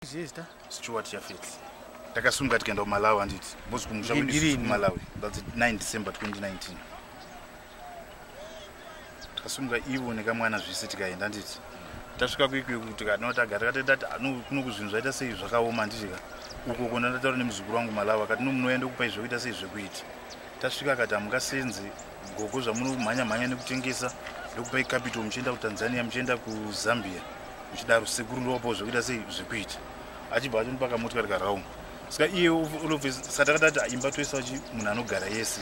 zvezita stewart jafets takasunga tikaenda kumalawi handiti bos kumusha kumalawi thats 9 december 2019 takasunga ivo nekamwana zvese tikaenda handiti tasvika kuikwiyo kuti kanotaga takatoita ti kuno kuzvinhu zvaita sei zvakaoma handitika uko kona ndataura nemuzukuru wangu malawi akati nomunoya ndokupai zvekuita sei zvekuita tasvika akati hamungasenzi Gogo zvamuri kumhanya mhanya nekutengesa ndokupai capital muchienda kuTanzania muchienda kuZambia muchidaro sekuru ndovapo zvekuita sei zvekuita achibva atonipa kamotikari karaum saka iye olove satakati ati imba toisa chi munhu anogara yese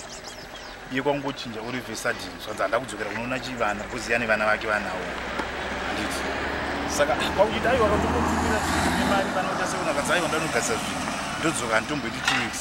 iye kwangochinja olove sadin zvanzi handa kudzokera kunoona chi vana koziya nevana vake vanawo handiti saka kwakuchiti aiwa katombotumira mari vanoita sekunakadzaiwa ndanogasira zvinhu ndodzoka handitomboiti two weeks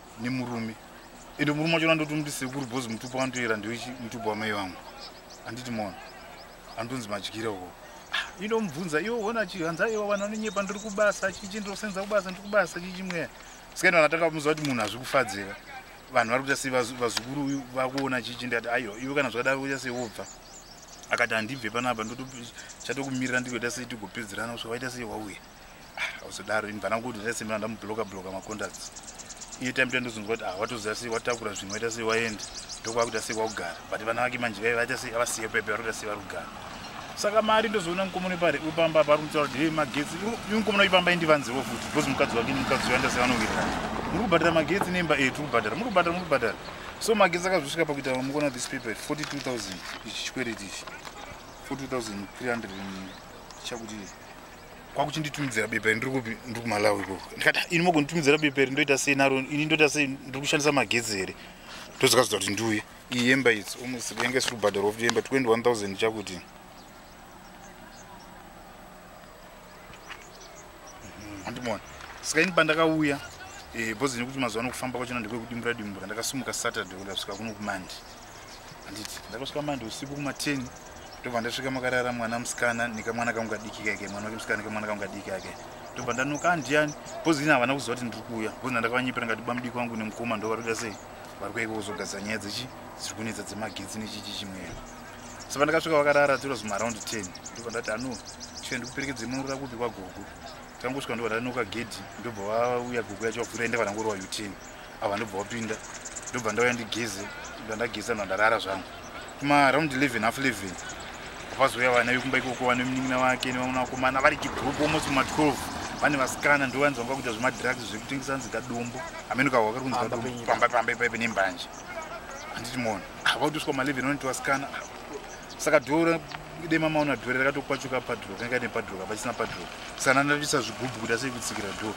nemurume ende murume wacho andoti unomuti sekuru bhozi mutupo anotoyera ndewechi mutupo wamai vangu anditi mona anotonzi madyira uko ah, inomubvunza iwo ona chihanza iwo vanhu vanonyepa ndiri kubasa chichi ndosenza kubasa ndiri kubasa chichi mweya sikaini vanhu atanga kumuziva kuti munhu hazvi kufadzira vanhu vari kuita sei vazukuru uyu vakuona chichi ndikati aiwa iwe kana zvakadaro kuita sei wobva akati handibve panapa ndoto chatokumirira ndikuita sei tigopedzerana kusva waita sei wauya usodaro ini bvana kuti ndese mina ndamubloka bloka macontacts iye time to ndozonzwa kuti ah watoziva sei watakura zvinhu waita sei waenda ndokwakuita sei kwakugara but vana vake manje vaiva vaita sei avasiye pepe vari kuita sei vari kugara saka mari ndozoona mukomona pari upamba pari kutaura kuti hei magetsi iwe mukomona ipamba indivanziwo futi because mukadzi wake mukadzi uyo andase vanovirira muri kubhadhara magetsi nemba etu eh, kubhadhara muri kubhadhara muri kubhadhara so magetsi akazosvika pakuita mukona this paper 42000 ichi chikwereti ichi 42300 chakuti kwakuchinditumidzira bepa ndiri kupi ndiri kumalawi ikoko ndikati ah, ini mogonditumidzira bepa iri ndoita sei naro ini ndoita sei ndiri kushandisa magetsi here ndozokazodza kuti ndiuye iyi yemba idzi almost yanga isiri kubhadharwa kuti yemba 21000 chakuti mhm. andimona saka ini pandakauya eh, bhozi nekuti mazuva anokufamba kwachona ndekwekudimura dimura ndakasumuka saturday kuda kusvika kuno kumandi handiti ndakasvika mandi usiku kuma 10 ndobva ndasvika makarara mwana musikana nekamwana kangu kadiki kake mwana wake musikana nekamwana kangu kadiki kake ndobva ndanoka andiyani bcoz ini havana kuziva kuti ndiri kuuya bcoz ndandakavanyepera ngati bamudiki wangu nemukoma ndo vari kuita sei vari kueka kuzogadzira nyaya dzechi dziri kunetsa dzemagetsi nechichi chimwero so pandakasvika vakarara tiro zuma around 10 ndobva ndati ano chie ndikuperekedze munurira kupi kwagogo takangosvika ndobva ndanoka gedhi ndobva vauya gogo yacho vavhura ende vanangorova u10 ava ndobva wapinda ndobva ndauya ndigeze ndobva ndageza ndobva ndarara zvangu kuma round 11 half 11 vapazouya vana vekumba ikoko vane munin'ina wake nevamwe vakomana vari kigroup almost kuma 12 vane vasikana ndo vanzi vanga kuita zvemadrugs zvekutengesa hanzi kadumbu amene kavo vakari kunzi kadumbu pamba pamba ipaipe nembanje handiti mona ah, vakutiswa ma 11 vanoti vasikana ah, saka doro dema maona doro rakatokwachuka padro kanga ine padro kapa chisina padro saka ndandaisa zvigubhu kuti asei kutsikira doro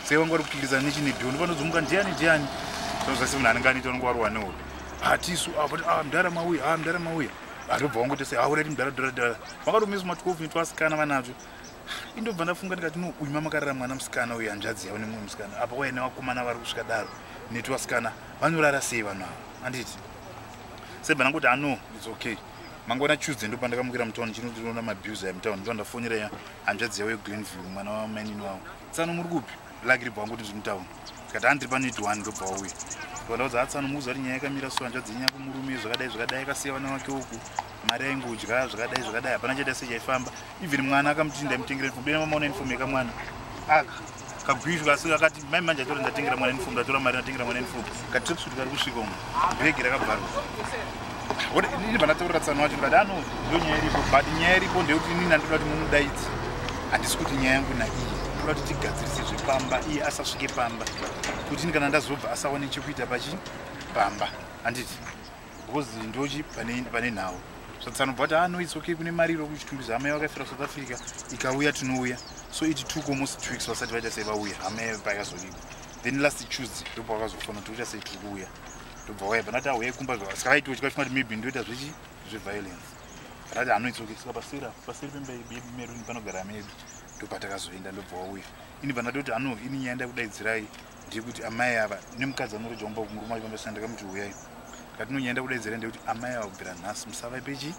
sei vanga vari kukikirizana nechine doro ndopanozomuka ndiani ndiani zvazvasi munhu anenge anita unenge warohwa nehope hatisu avati ah, ah, mdara mauya a ah, mdara mauya atobva wangoita sei aurati mdara dora dora vakatomisa ma12 ni twasikana vanazvo indobva ndafunga ndikati no uyu mamakarara mwana musikana uyu hanzvadzi yavo nemumwe musikana apa waya nevakomana vari kusvika daro netwasikana vanorara sei vanhu ava handiti Sebe nanguti I know it's okay. Mangwana Tuesday ndo pandakamukira mutown chino ndinoona mabuser emutown ndo ndafonera ya hanzvadzi yavo yeGlenview mwana wamainini wavo. Tsano muri kupi? Lucky ribva wangu kuti ndiri mutown. Tikati handiri pano idi one ndobva wauya. Ndikadaudza atsano muuza kuti nyaya yakamira so hanzvadzi yenyu yakumurume zvakadai zvakadai akasiya vana vake uku. Mari yaingodya zvakadai zvakadai hapana chaita sechaifamba. even mwana akamuti ndaimutengera uniform bena mamaona uniform yekamwana aka kagwizhu kasi akati mai manje atora ndatengera mwana uniform ndatora mari ndatengera mwana uniform katrepsut kari kusvika umu bhegi rakabvarwa ini vandataurira tsano wacho ndikati ano ndo nyaya iripo but nyaya iripo ndeyekuti inini andinoda kuti mumudaidzi handisi kuti nyaya yangu naiyi ndoda kuti tigadzirise zvepamba iye asasvike pamba kuti ini kana ndazobva asawane chekuita pachi pamba handiti because ndochi pane nhau zvatsanobva kuti ano ah, its okay kune mari iro kuchitumbizva amai vakafira south africa ikauya tinouya so iti took almost two weeks vasati vaita sei vauya amai payakazolipa then last tuesday ndobva vakazofona kuti uita sei tiri kuuya ndobva waya panati auya kumba saka vaiti vachikati kuti maybe ndoita zvechi zveviolence rati ano its okay saka pasira pasiri pemba yemeruni panogara medu ndopatakazoenda ndobva wauya ini panati kuti ano ini nyaya ndakudaidzirai ndekuti amai ava nemukadzi anorudza kumba kumurume wacho vambasina ndakamuti huyai katinonyenda kudaidzira ndekuti amai ava kubvira nhasi musavape chi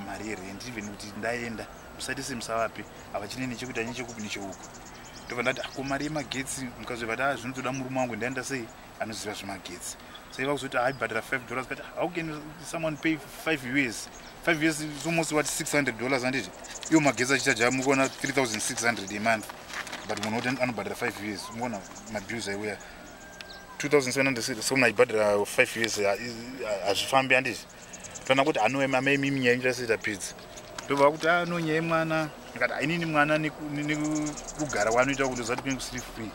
mari yerendi even kuti ndaenda musati se musavape havachine nechekuita nechekupi necheuku ndobva ndati ako ah, mari yemagetsi mukadzi vati a ah, zvinotoda murume wangu ndaenda sei anoziva zvemagetsi saiva kuzoti haibhadhara ah, five dollars but how can someone pay five us five us is almost what six hundred dollars handiti iwo magetsi achichaja mukuona three thousand six hundred a month but munhu woti anobhadhara five us mukuona mabills aiuya two thousand seven hundred so munhu aibhadhara five us hazvifambi handiti tana kuti anoema maimiminyanyirasita pidzi ndobva kuti ah, no nyaya mwana akati ainini mwana nekugara wanoita kuti uzati kune kusiri free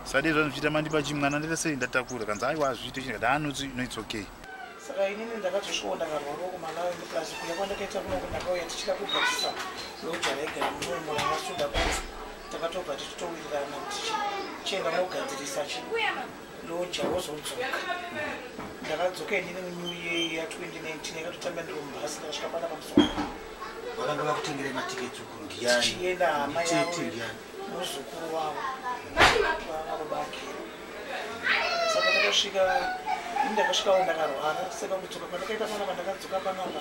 sadei zvanochiita mandipa chi mwana ndaita sei ndatakura kanzi aiwa azviite chii ah, no its okay saka inini ndakatosvikawo ndakarwara kumalawi plus kuya kwandakaita kunoko ndakauya tichida kugadzisa loja raigara munomola masuda kwanzi takatobva tichitowirirana tichienda mogadzirisa chi ndoja wozodzoka ndakadzoka endine munew year ya 2019 yakatotamba ndiro mubhasi ndakasvika pana pamusoro vakanga vakutengere matiketi ukuru ndiyani tichienda hama yavo muzukuru wavo vavo bake saka takasvika ini ndakasvikawo ndakarwara saka kudzoka kwandakaita panapa ndakadzoka panapa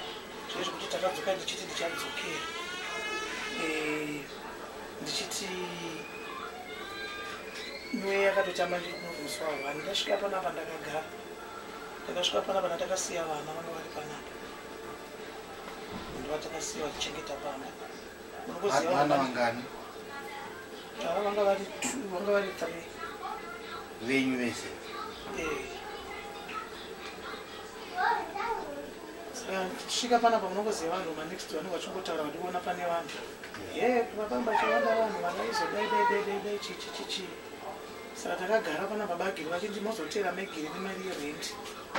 zvee zvekuti takadzoka ndichiti ndichadzokera eh, ndichiti Mweya yakatoita manje kunomuswa hwani ndasvika panapa ndakagara ndakasvika panapa ndatakasiya vana vanga vari panapa ndivatakasiya vachichengeta pamba munokuzivaana vangani ava vanga vari t vanga vari three venyu vese eh. saka ndisvika panapa munokuziva vanhu manext vanenge vachingotaura vandiona pane vanhu Ehe, pakamba chawanda vanhu vakaizodaidaidaidaidai chichichichi saka takagara pana baba agiri vachiti mozoteera megiri nemari yerenti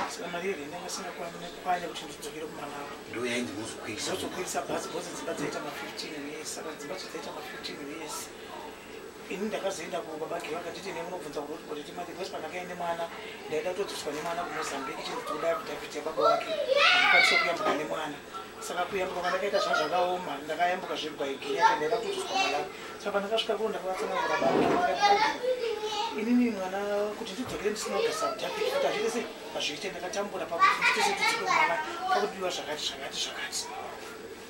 saka mari yerenti yanga singakwanye kuti ndidzokere kumalawa ndo yainzi mozokwirisa mozokwirisa bhazi bhozi dzimba dzaita ma15 yes saka dzimba chidzaita ma15 yes ini ndakazoenda ku baba geva akatiti ne munobvunza kuti kuti ti mati bhosi pandakaende mwana ndaida kutodzoswa ne mwana ku Mozambique chiri kuti kudai kuti apite baba wake ndikwanisa kuyambuka ne mwana saka kuyambuka kwandakaita zva zvakaoma ndakayambuka zve by genya kuti ndaida kutodzoswa mwana saka pandakasvika kuno ndakavatsanana na baba inini mwana kuti ndidzokere ndisina kugasa kudhapi kuti hazvite sei hazviite ndakatambura pakuti nditese tudzike mwana pakudiwa zvakati zvakati zvakati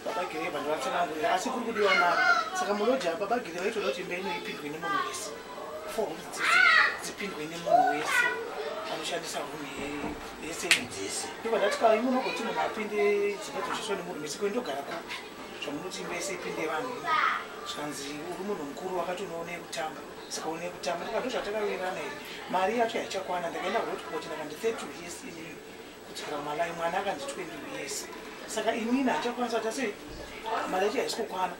baba gire vanhu vatsanangurira asi kuri kudiwa mari saka muloji apa baba gire vaitoda kuti imba ino ipindwe nemunhu wese four hundred dzese dzipindwe nemunhu wese anoshandisa rumu yese dzese ndobva ndati ka imi unogoti munhu apinde dzimba dzoshandiswa nemunhu wese koi ndogara kupi zvamunoti imba yese ipinde vanhu ino zvikanzi uri munhu mukuru wakati unoone kutamba saka une kutamba ndikando zvatakawirirana here mari yacho yaichakwana ndakaenda hotpot ndakandi thirty years inini kudzora malai mwana akanzi 20 years saka inini hachakwanisa kuti asi mari yacho haisi kukwana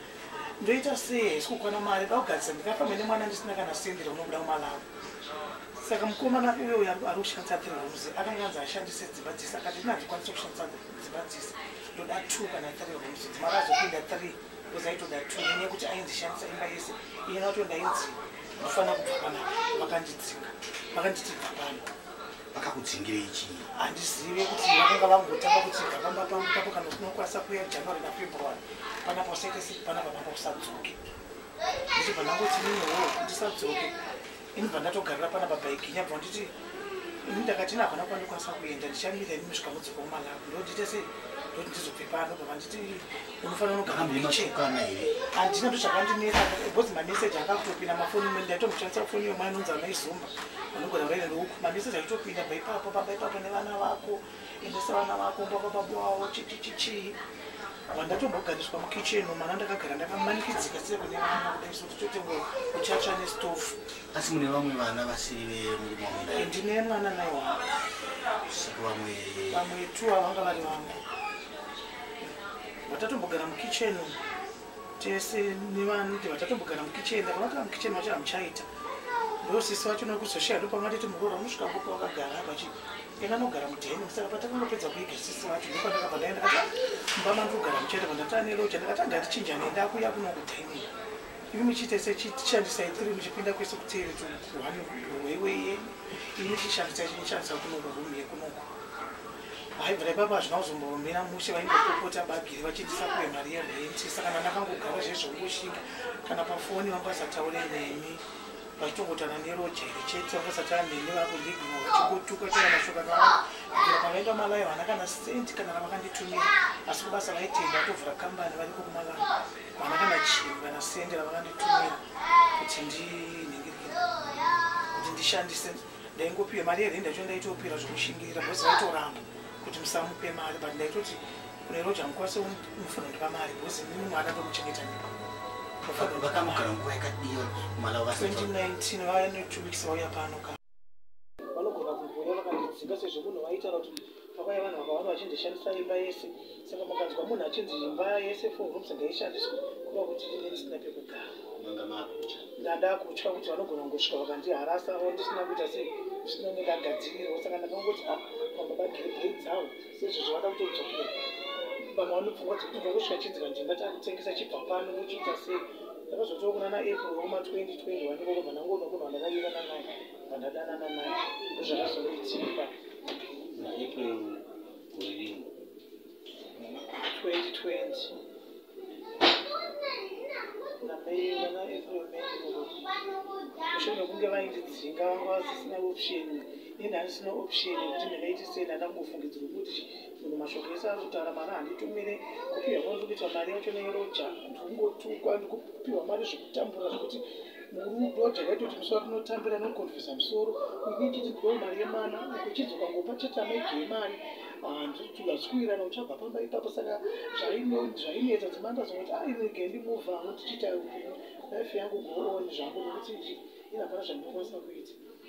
ndoita sei haisi kukwana mari da kugadzisa ndikafamba nemwana ndisina kana sendi raunobuda kumalawi saka mukomana uyo uyo ari kushandisa three rooms akanga anzi ashandise dzimba dzese akati ini handikwanisa kushandisa dzimba dzese ndoda two kana three rooms dzimara azopinda three because aitoda two nenyaya yekuti ainzishandisa imba yese iyena wato ndainzi ndofana kubva panapa vakandidzinga vakanditi bva pano vakakudzingirei chii handizive kuti vakanga vangotanga kuti gavamba pangu papo kana tinokwanisa kuya january nafebruary pana pasaite sei pana pamanga kusadzoke ndichibva ndangoti ninewo ndisadzoke inibva ndatogarira pana baba iginya bva nditi ini ndakati ini hapana kwandikwanisa kuenda ndichamira ini musvika mudzoka kumalawi ndodite sei ndoti ndizobve pano bva vanditi unofanira kugara mhema chekana here handina ndo zvakandinesa because mameseji akatopinda mafoni imwe ndaitomushandisa foni yomwana inonzi amaizumba anogona kutaira neuku mameseji aitopinda baipapo pabaipapo nevana vako endesa vana vako mbabababwawo chichichichii vandatombogariswa mukitchen mwana ndakagara ndakamanikidzika sei kune vana kudai so tichotengo kuchatsva nestofu asi mune vamwe vana vasiri vemurume wamda eh, ndine mwana nai wangu vamwe vamwe two avanga vari vangu vatatombogara mukitchen tese nevanoti vatatombogara mukitchen vakanotara mukitchen vacho hamuchaita ndosisi vacho nokuzoshaya ndopamatiti muroora unosvika ngopa vakagara vachi yakanogara mudheni saka patakangopedza kuiga sisi vacho ndopandakabva ndaenda kati mumba mandikugara muchaita pandatava neloja ndakati angatichinja nenda kuya kuno kudheni imi muchiita sechishandisai tiri muchipinda kwese kuteere tukuhani hweiwei yeni imi muchishandisai chinishandisa kunokurumu yekunoko vaibva ipapa hazvina kuzomboromera mushe vaimbopopota bagiri vachindisa kuve mari yerenti saka kana ndakangogara zvezvongoshinga kana pafoni vangasataure neni vachitongotana nerojeri chete vangasatana neni vakundigima vachingotuka chera mashoko akawanda ira pavaenda malayo vana kana senti kana ravakanditumira asi kubasa vaitenda vatovhura kambani variko kumalayo vana kana chii kana sendi ravakanditumira kuti ndinenge kuti ndishandise ndaingopiwa mari yerenda cho ndaitopira zvekushingira bhosi vaitoramba kuti musamupe mari but ndaitoti kune roja mukwase mufanira ndipa mari bhosi mimi mwana ndomuchengeta ndipo vakamugara nguva yakadiyo mala va 2019 vaya ne two weeks vauya pano ka vanogona kumboya vakandidzinga sezvo munhu vaitaura kuti Makauya vanhu vakawanda vachinzi shandisa imba yese saka mukanzwa munhu achinzi imba yese four rooms ngaishandiswe kuva kuti ndine ndisina pekugara ndada kutya kuti vanogona kungosvika vakandiharasa avo ndisina kuita sei zvisina kunge ndagadzirirwa saka ndakangoti a ah, vamwe bagirebhei dzavo sezvozvo vada kutodzokera vamwe vanopfungwa dzekuti bva kusvika chinzi kanzi ndati akutengesa chibva pano vochiita sei ndakazotoo kunana april wekuma 2020 wandikokobva ndangoona munhu wandakayirana naye Pandadanana naye ndozvakazondidzimba. April wedding. 2020. Nameyi vana April May mushure mekunge vaindidzinga vanga vasisina option ini handisina option yekuti ndingaiti sei ndandangofungidzirwa kuti munhu mashoko ese ari kutaura mari handitumire kupiwa kwandiri kuita mari yacho neroja ndikungotukwa ndikupiwa mari zvekutambura zvekuti murudo takaitoti musi watinotambira nokukonfesa musoro ini chiti ndiwo mari yemwana kuchidzoka ngopa chete amaidyo yemari handitugazikurana ah, uchabva pamba ipapo saka zvainetsa dzimanga zvokuti ainege ah, ndimuva ano tichiita life yangu gooni zvangu nokuti izvi inapana zvandinokwanisa kuita